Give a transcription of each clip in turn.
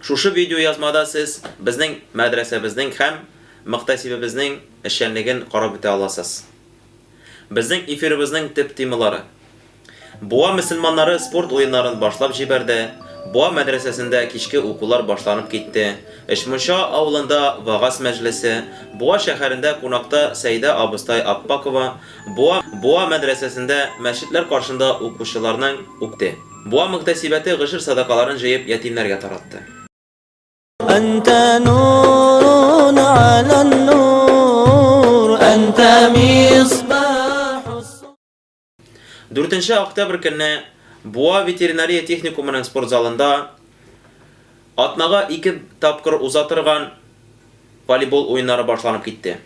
Шушы видеоязмада сез безнең мәдрәсәбезнең һәм мөхтәсибебезнең эшчәнлеген карап үтә аласыз. Безнең эфирыбызның төп темалары. Буа мөселманнары спорт уеннарын башлап җибәрде, Буа мәдрәсәсендә кичке укулар башланып китте, Өчмунча авылында вәгазь мәҗлесе, Буа шәһәрендә кунакта Сәйдә абыстай Аппакова, Буа Буа мәдрәсәсендә мәчетләр каршында укучыларның укте. Буа мөгтәсибәте гошер садакаларын җыеп ятимнәргә таратты. Әнтә нурун ала нур, әнтә мисбахус. Дүртенче октябрь көнне Буа ветеринария техникумының спорт залында атнага ике тапкыр уза торган волейбол уеннары башланып китте.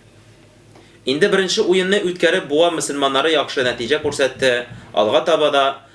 Инде беренче уенны үткәреп Буа мөселманнары яхшы нәтиҗә күрсәтте, алга таба да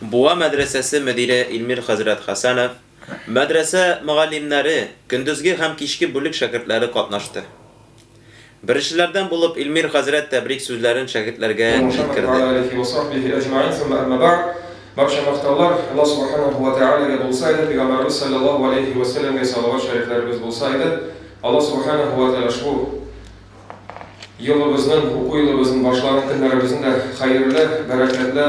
Буа мәдрәсәсе мөдире Илмир хәзрәт Хәсәнов, мәдрәсә мөгаллимнәре, көндезге һәм кичке бүлек шәкертләре катнашты. Беренчеләрдән булып Илмир хәзрәт тәбрик сүзләрен шәкертләргә җиткерде. Барча мактаулар Алла Субханаһу ва Тәгаләгә булса иде, Пәйгамбәребез салләллаһу галәйһи вә сәлләмгә салават шәрифләребез булса иде. Алла Субханаһу ва Тәгалә ошбу. Елыбызның, уку елыбызның башланган көннәребезнең дә хәерле, бәрәкәтле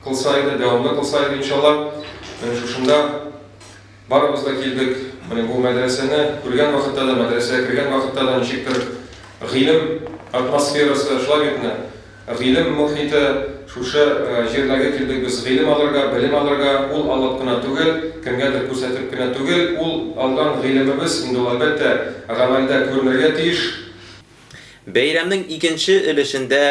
кылса иде, дәвамлы кылса иде, иншалла. Менә шушында барыбыз да килдек. Менә бу мәдрәсәне күргән вакытта да, мәдрәсәгә кергән вакытта да ничектер гыйлем атмосферасы, шулай бит менә. Гыйлем мохите, шушы җирдәге килдек без гыйлем алырга, белем алырга, ул алып кына түгел, кемгәдер күрсәтеп кенә түгел, ул алган гыйлемебез инде ул, әлбәттә, гамәлдә күренергә тиеш. Бәйрәмнең икенче өлешендә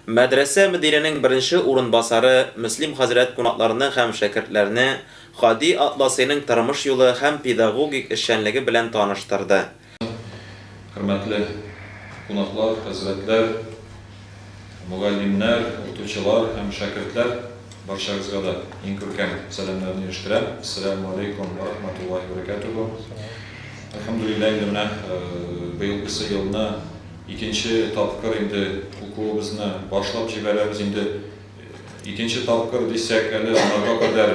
мәдрәсә мөдиренең беренче урынбасары Мөслим хәзрәт кунакларны һәм шәкертләрне Һади Атласыйның тормыш юлы һәм педагогик эшчәнлеге белән таныштырды. Хөрмәтле кунаклар, хәзрәтләр, мөгаллимнәр, укытучылар һәм шәкертләр, барчагызга да иң күркәм сәламнәрне ирештерәм. Әссәләмү алейкум вә рахматуллаһи вә бәрәкәтүһү. Әлхәмдүлилләһ, инде менә быелгысы елны икенче тапкыр инде укуыбызны башлап җибәрәбез. Инде икенче тапкыр дисәк әле, аңарга кадәр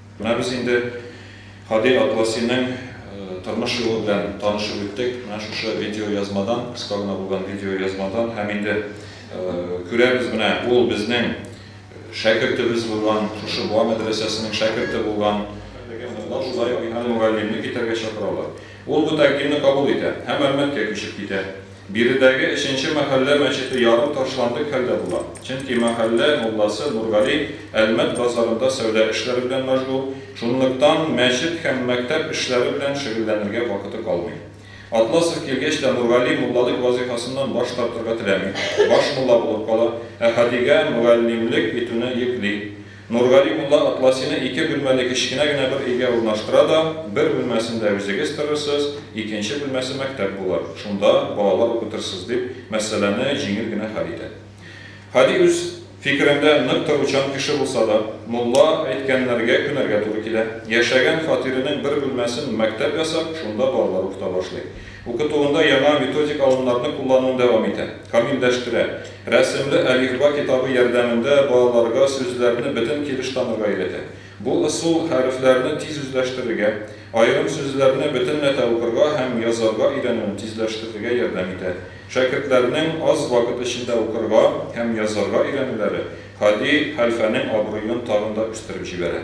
Менә без инде Һади Атласиның тормыш юлы белән танышып үттек, менә шушы видеоязмадан, кыска гына булган видеоязмадан һәм инде күрәбез, менә ул безнең шәкертебез булган, шушы Буа мәдрәсәсенең шәкерте булган. Укучылар шулай ук инде мөгаллимне китәргә чакыралар. Ул бу тәкъдимне кабул итә һәм Әлмәткә күчеп китә. Биредәге өченче мәхәллә мәчете ярым ташландык хәлдә була, чөнки мәхәллә мулласы Нургали Әлмәт базарында сәүдә эшләре белән мәшгуль, шунлыктан мәчет һәм мәктәп эшләре белән шөгыльләнергә вакыты калмый. Атласов килгәч тә Нургали муллалык вазыйфасыннан баш тартырга теләми, баш мулла булып кала, Әхәдигә мөгаллимлек итүне йөкли. Нургали мулла Атласины ике бүлмәле кечкенә генә бер өйгә урнаштыра да, бер бүлмәсендә үзегез торырсыз, икенче бүлмәсе мәктәп булыр, шунда балалар укытырсыз, дип, мәсьәләне җиңел генә хәл итә. Һади үз фикерендә нык торучан кеше булса да, мулла әйткәннәргә күнәргә туры килә. Яшәгән фатирының бер бүлмәсен мәктәп ясап, шунда балалар укыта башлый. Укытуында яңа методик алымнарны куллануын дәвам итә, камилләштерә. Рәсемле әлифба китабы ярдәмендә балаларга сүзләрне бөтен килеш танырга өйрәтә. Бу ысул хәрефләрне тиз үзләштерергә, аерым сүзләрне бөтенләтә укырга һәм язарга өйрәнүен тизләштерергә ярдәм итә. Шәкертләрнең аз вакыт эчендә укырга һәм язарга өйрәнүләре Һади хәлфәнең абруен тагын да үстереп җибәрә.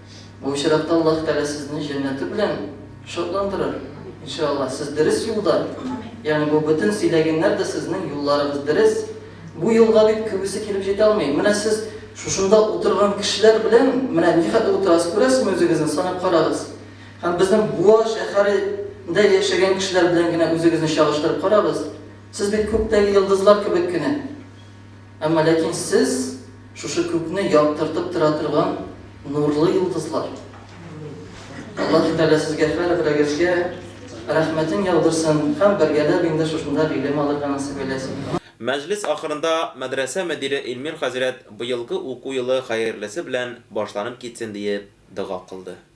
Бу очракта Аллаһ Тәгалә сезне җәннәте белән шатландырыр, иншаАллаһ. Сез дөрес юлда, ягъни бу бөтен сөйләгәннәр дә сезнең юлларыгыз дөрес. Бу юлга бит күбесе килеп җитә алмый. Менә сез шушында утырган кешеләр белән менә нихәтле утырасыз, күрәсезме үзегезне, санап карагыз. Һәм безнең Буа шәһәрендә яшәгән кешеләр белән генә үзегезне чагыштырып карагыз. Сез бит күктәге йолдызлар кебек кенә. Әмма ләкин сез, шушы күкне яктыртып тора торган нурлы йолдызлар. Аллаһы Тәгалә сезгә һәр берегезгә рәхмәтен яудырсын һәм бергәләп инде шушында гыйлем алырга насыйп әйләсен. Мәҗлес ахырында мәдрәсә мөдире Илмир хәзрәт быелгы уку елы хәерлесе белән башланып китсен диеп дога кылды.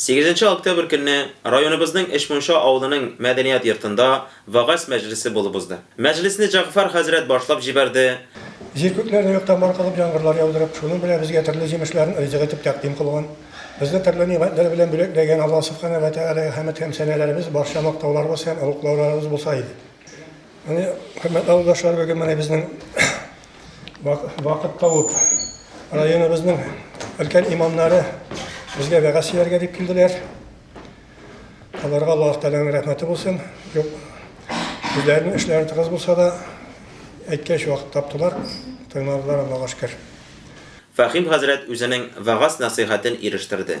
Сигезенче октябрь көнне районыбызның Эчмунча авылының мәдәният йортында вәгазь мәҗлесе булып узды. Мәҗлесне Җәгъфәр хәзрәт башлап җибәрде. Җир күкләрне юктан бар кылып, яңгырлар яудырып, шуның белән безгә төрле җимешләрен ризык итеп тәкъдим кылган, безне төрле нигъмәтләр белән бүләкләгән Аллаһ Сүбхәнәһү вә Тәгаләгә хәмед һәм сәнәләребез, барча мактауларыбыз һәм олуглауларыбыз булса иде. Хөрмәтле авылдашлар, бүген менә безнең вакыт табып районыбызның өлкән имамнары безгә вәгазь сөйләргә дип килделәр. Аларга Аллаһ Тәгаләнең рәхмәте булсын. Юк, үзләренең эшләре тыгыз булса да, әйткәч вакыт таптылар, тыңладылар Аллаһка шөкер. Фәхим хәзрәт үзенең вәгазь-нәсыйхәтен ирештерде.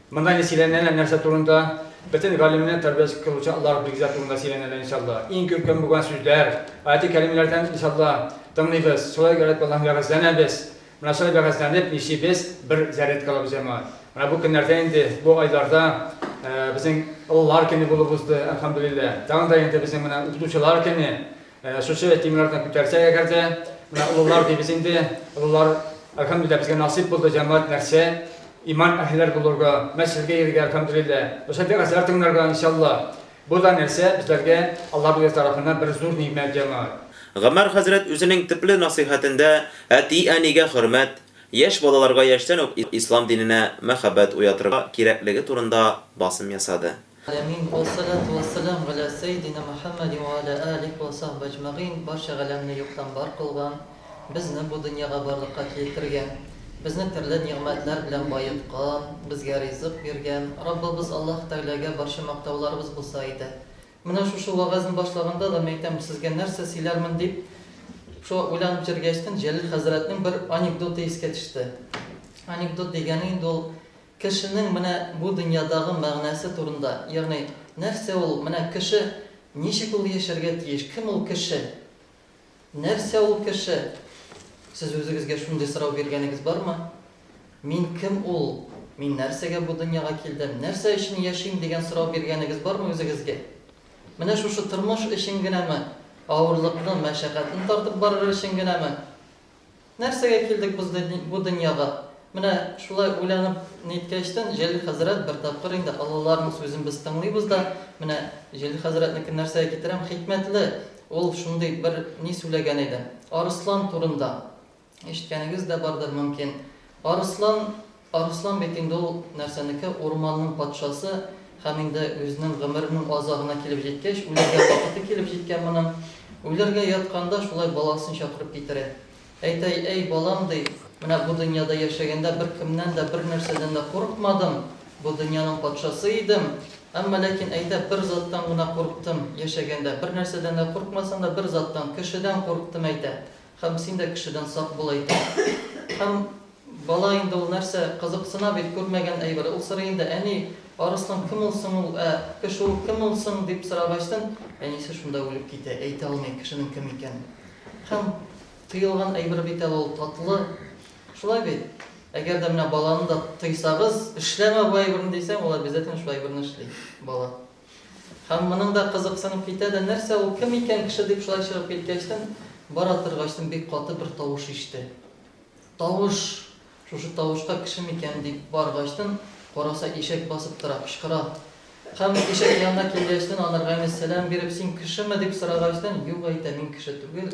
Монда инде сөйләнәләр нәрсә турында? Бөтен галимне тәрбияче кылучы Аллаһ билгеләр турында сөйләнәләр иншалла. Иң күркәм булган сүзләр, аяти кәримләрдән иншалла тыңлыйбыз. Шулай итеп Аллаһ вәгазьләнәбез. Менә шулай вәгазьләнеп нишибез, бер зарядка алабыз җәмәгать. Менә бу көннәрдә инде, бу айларда безнең олылар көне булып узды, әлхәмдүлилләһ. Тагын да инде безнең менә укытучылар көне. Шушы темалардан күтәрсәк әгәр дә, менә олылар дибез инде, олылар, әлхәмдүлилләһ, безгә насыйп булды җәмәгать нәрсә? Иман әһелләр булырга, мәчетләргә йөрергә, әлхәмдүлилләһ. Ошо вәгазьләр тыңларга, иншалла. Бу да нәрсә, безләргә Аллаһ үзе тарафыннан бер зур нигъмәт, җәмәгать. Гомәр хәзрәт үзенең төпле насыйхәтендә әти-әнигә хөрмәт, яшь балаларга яшьтән үк ислам диненә мәхәббәт уятырга кирәклеге турында басым ясады. Амин, вассалату вассалам галә сәйдинә Мөхәммәдин вә алә алих вә сахбе әҗмәгыйн, Барча галәмне юктан бар кылган, безне бу дөньяга барлыкка килтергән, безне төрле нигъмәтләр белән баеткан, безгә ризык биргән Раббыбыз Аллаһ Тәгаләгә барча мактауларыбыз булса иде. Менә шушы вәгазьне башлаганда да, мин әйтәм, сезгә нәрсә сөйләрмен дип шулай уйланып җөргәчтен, Җәлил хәзрәтнең бер анекдоты искә төште. Анекдот дигәне инде ул Кешенең менә бу дөньядагы мәгънәсе турында, ягъни, нәрсә ул, менә кеше, ничек ул яшәргә тиеш, кем ул кеше, нәрсә ул кеше? Сез үзегезгә шундый сорау биргәнегез бармы? Мин кем ул, мин нәрсәгә бу дөньяга килдем, нәрсә өчен яшим дигән сорау биргәнегез бармы үзегезгә? Менә шушы тормыш өчен генәме, авырлыкны, мәшәкатьне тартып барыр өчен генәме? Нәрсәгә килдек без бу дөньяга? Менә шулай уйланып ниткәчтен, Җәлил хәзрәт бер тапкыр инде олыларның сүзен без тыңлыйбыз да, менә Җәлил хәзрәтнекен нәрсәгә китерәм, хикмәтле ул шундый бер ни сүләгән иде. Арыслан турында ишеткәнегез дә бардыр мөмкин. Арыслан Арыслан бит инде ул нәрсәнеке, урманның патшасы һәм инде үзенең гомеренең азагына килеп җиткәч, үләргә вакыты килеп җиткән моның, үләргә ятканда шулай баласын чакырып китерә. Әйтә, Әй, балам, ди, менә бу дөньяда яшәгәндә беркемнән дә, бернәрсәдән дә курыкмадым, бу дөньяның патшасы идем, әмма ләкин, әйтә, бер заттан гына курыктым, яшәгәндә, бернәрсәдән дә курыкмасам да, бер заттан, кешедән курыктым, әйтә. Һәм син дә кешедән сак бул, әйтә. Һәм бала инде ул нәрсә, кызыксына бит, күрмәгән әйбер. Ул сорый инде, Әни, арыслан кем ул соң ул, ә? Кеше ул кем ул соң? дип сорагачтын, әнисе шунда үлеп китә, әйтә алмый кешенең кем икәнен. Һәм тыелган әйбер бит әле ул, татлы. Шулай бит? Әгәр дә менә баланы да тыйсагыз, эшләмә бу әйберне дисәң, ул обязательно шул әйберне эшли, бала. Һәм моның да кызыксынып китә дә, нәрсә ул, кем икән кеше дип шулай чыгып киткәчтен, бара торгачтын бик каты бер тавыш иште. Тавыш! Шушы тавышка кеше микән дип баргачтын, караса ишәк басып тора, кычкыра. Һәм ишәк янына килгәчтен, анарга әмәс сәлам биреп, син кешеме дип сорагачтын, юк әйтә, мин кеше түгел.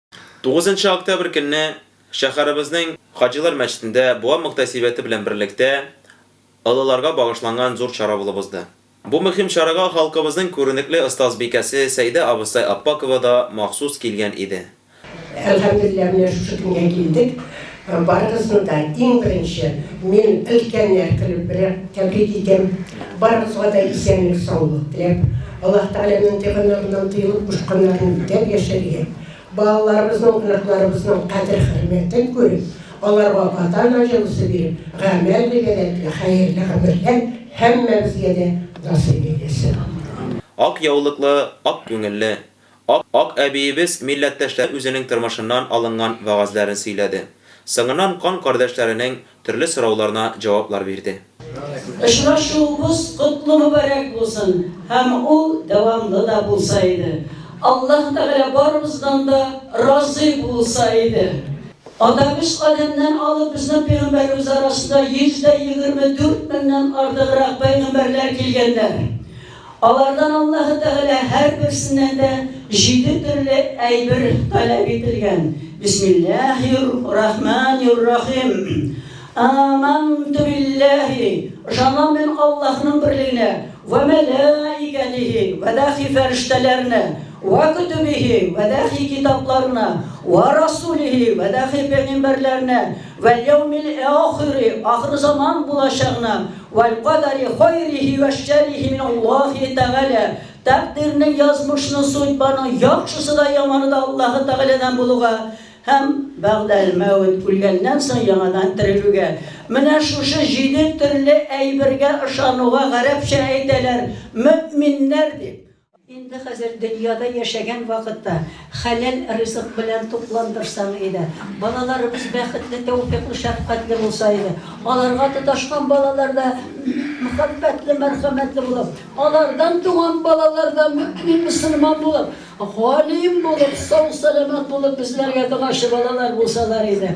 Тугызынчы октябрь көнне шәһәребезнең Хаҗилар мәчетендә Буа мөхтәсибәте белән берлектә олыларга багышланган зур чара булып узды. Бу мөһим чарага халкыбызның күренекле остазбикәсе Сәйдә абыстай Аппакова да махсус килгән иде. Әлхәмдүлилләһ, менә шушы көнгә килдек. Һәм барыгызны да иң беренче мин өлкәннәр көне белән тәбрик итәм. Барыгызга да исәнлек саулык теләп, Аллаһ Тәгаләнең тыйганнарыннан тыелып кушканнарын үтәп яшәргә, балаларыбызның, оныкларыбызның кадер-хөрмәтен күреп, аларга ата-ана җылысы биреп, гамәл-гыйбадәтле, хәерле гомерләр һәммәбезгә дә насыйп әйләсен. Ак яулыклы, ак күңелле. Ак әбиебез милләттәшләр үзенең тормышыннан алынган вәгазьләрен сөйләде, соңыннан кан кардәшләренең төрле сорауларына җаваплар бирде. Очрашуыбыз котлы мөбарәк булсын һәм ул дәвамлы да булса иде. Аллаһ Тәгалә барыбыздан да разый булса иде. Атабыз Адәмнән алып безнең пәйгамбәребез арасында 124 меңнән артыграк пәйгамбәрләр килгәннәр. Алардан Аллаһы Тәгалә һәрберсеннән дә җиде төрле әйбер таләп ителгән, Бисмиллаһир рахманир рахим, Аманту биллаһи, ышанам мин Аллаһның берлегенә, вә мәләикәтихи, вә дәхи фәрештәләренә, вә көтүбихи, вә дәхи китапларына, вә расулихи, вә дәхи пәйгамбәрләренә, вәл яумил әохири, ахыр заман булачагына, Вәлкадәри хайрихи вә шәррихи мин Аллаһи тәгалә, тәкъдирнең, язмышның, судьбаның яхшысы да, яманы да Аллаһы тәгаләдән булуга һәм бәгъдәл мәүт, үлгәннән соң яңадан терелүгә. Менә шушы җиде төрле әйбергә ышануга гарәпчә әйтәләр, мөэминнәр дип. Инде хәзер дөньяда яшәгән вакытта хәләл ризык белән тукландырсаң иде, балаларыбыз бәхетле, тәүфыйклы, шәфкатьле булса иде, аларга тоташкан балалар да мәхәббәтле, мәрхәмәтле булып, алардан туган балалар да мөэмин, мөселман булып, галим булып, сау-сәламәт булып, безләргә догачы балалар булсалар иде.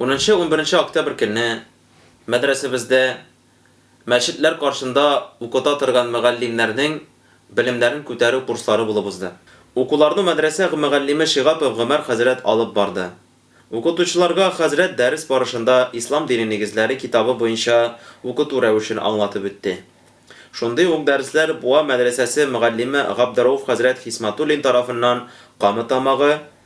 Унынчы-унберенче октябрь көнне мәдрәсәбездә мәчетләр каршында укыта торган мөгаллимнәрнең белемнәрен күтәрү курслары булып узды. Укуларны мәдрәсә мөгаллиме Шигапов Гомәр хәзрәт алып барды. Укытучыларга хәзрәт дәрес барышында Ислам дине нигезләре китабы буенча укыту рәвешен аңлатып үтте. Шундый ук дәресләр Буа мәдрәсәсе мөгаллиме Габдерауф хәзрәт Хисматуллин тарафыннан Камы Тамагы,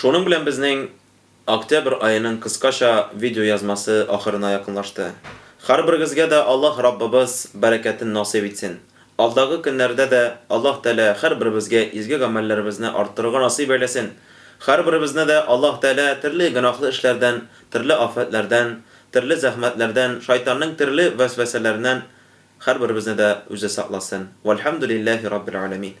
Шуның белән безнең октябрь аеның кыскача видеоязмасы ахырына якынлашты. Хәрберегезгә дә Аллаһ Раббыбыз бәрәкәтен насыйп итсен. Алдагы көннәрдә дә Аллаһ Тәгалә хәрберебезгә изге гамәлләребезне арттырырга насыйп әйләсен. Хәрберебезне дә Аллаһ Тәгалә төрле гөнаһлы эшләрдән, төрле афәтләрдән, төрле зәхмәтләрдән, шайтанның төрле вәсвәсәләреннән хәрберебезне дә Үзе сакласын. Вәлхәмдүлилләһи раббил галәмин.